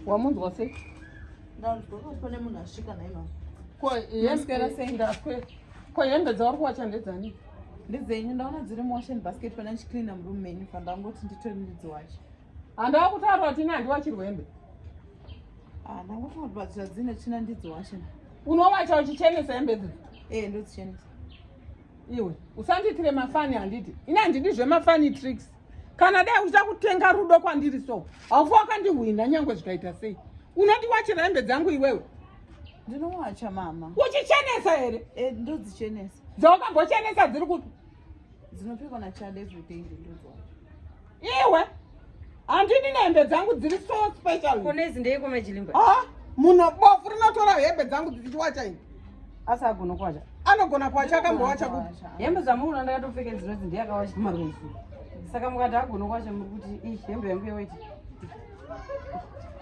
wamunzwa sei ndaone munhu asvika naye mama ko yasikera sei ndakwe ko hembe dzauri kuwacha ndedzani ndedzenyu ndaona dziri muwashen basket pana ndichicleana murume menyu pandangoti nditori ndidziwache Handava kutaura kuti nandi wachirwembe. Ah, ndanga kuti batsira dzine tsvina ndidzo washe. Unowacha uchichenesa hembe idzi? Eh, ndodzichenesa. Iwe, usandiitire mafani handiti. Ini handidi zvemafani tricks. Kana dai uchida kutenga rudo kwandiri so, haufa wakandihwina nyangwe zvikaita sei. Unoti wachira hembe dzangu iwewe? Ndinowacha mama. Uchichenesa here? Eh, ndodzichenesa. Dzawakambochenesa dziri kupi? dzinopfekwa na child every day ndindodzwa iwe handidi nehembe dzangu dziri so special kune izi ndeiko majilimba ah munhu bofu rinotora hembe dzangu dzichiwacha ini asi agona kuwacha anogona kuwacha akambowacha kuti hembe dzamuuna ndakatopfeka dzinodzi ndiyakawacha maruzi saka mukati agona kuwacha muri kuti ii hembe yangu yewaiti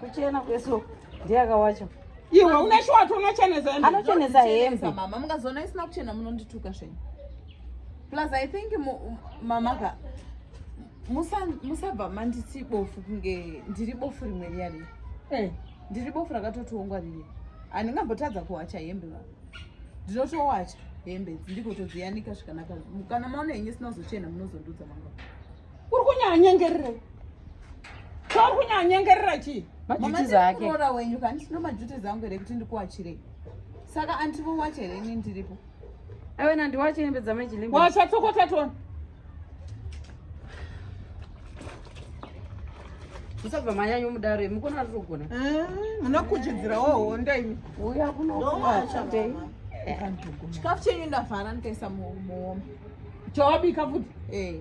kuchena kweso ndiye akawacha iwe une shwati unochenesa hembe anochenesa hembe mama mungazoona isina kuchena munondituka zvenyu plus i think mama ka musabva manditi bofu kunge ndiri bofu rimwe riya riya eh. ndiri bofu rakatotiongwa riye handingambotadza kuwacha hembe va ndinotowacha hembe ndikotodziyanika zvikanaka kana maona henyu sinazochena munozondudza mangwana Kuri kunyanyengerera. Kuri kunyanyengerera chi? Mama zake. Mama wenyu kani sino majuti zangu here kuti ndikuwachire. Saka antivo wache here ini ndiripo. Awe na ndiwache hembe dza meji limbo. Wacha tsokota tona. Musabva manyanyo mudaro imi kona rirogona. Eh, munokuchidzirawo honda imi. Uya kunokuwacha. Chikafu chenyu ndavhara ndikaisa muhombe. Chawabika futi? Eh.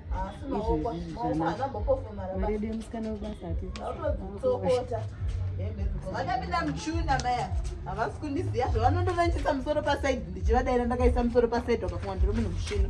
vakapinda muchuna maya havasi kundiziva zvavanondovandiisa musoro pasaidi ndichivadaira ndakaisa musoro pasaidi vakafunga ndiri munhu mushino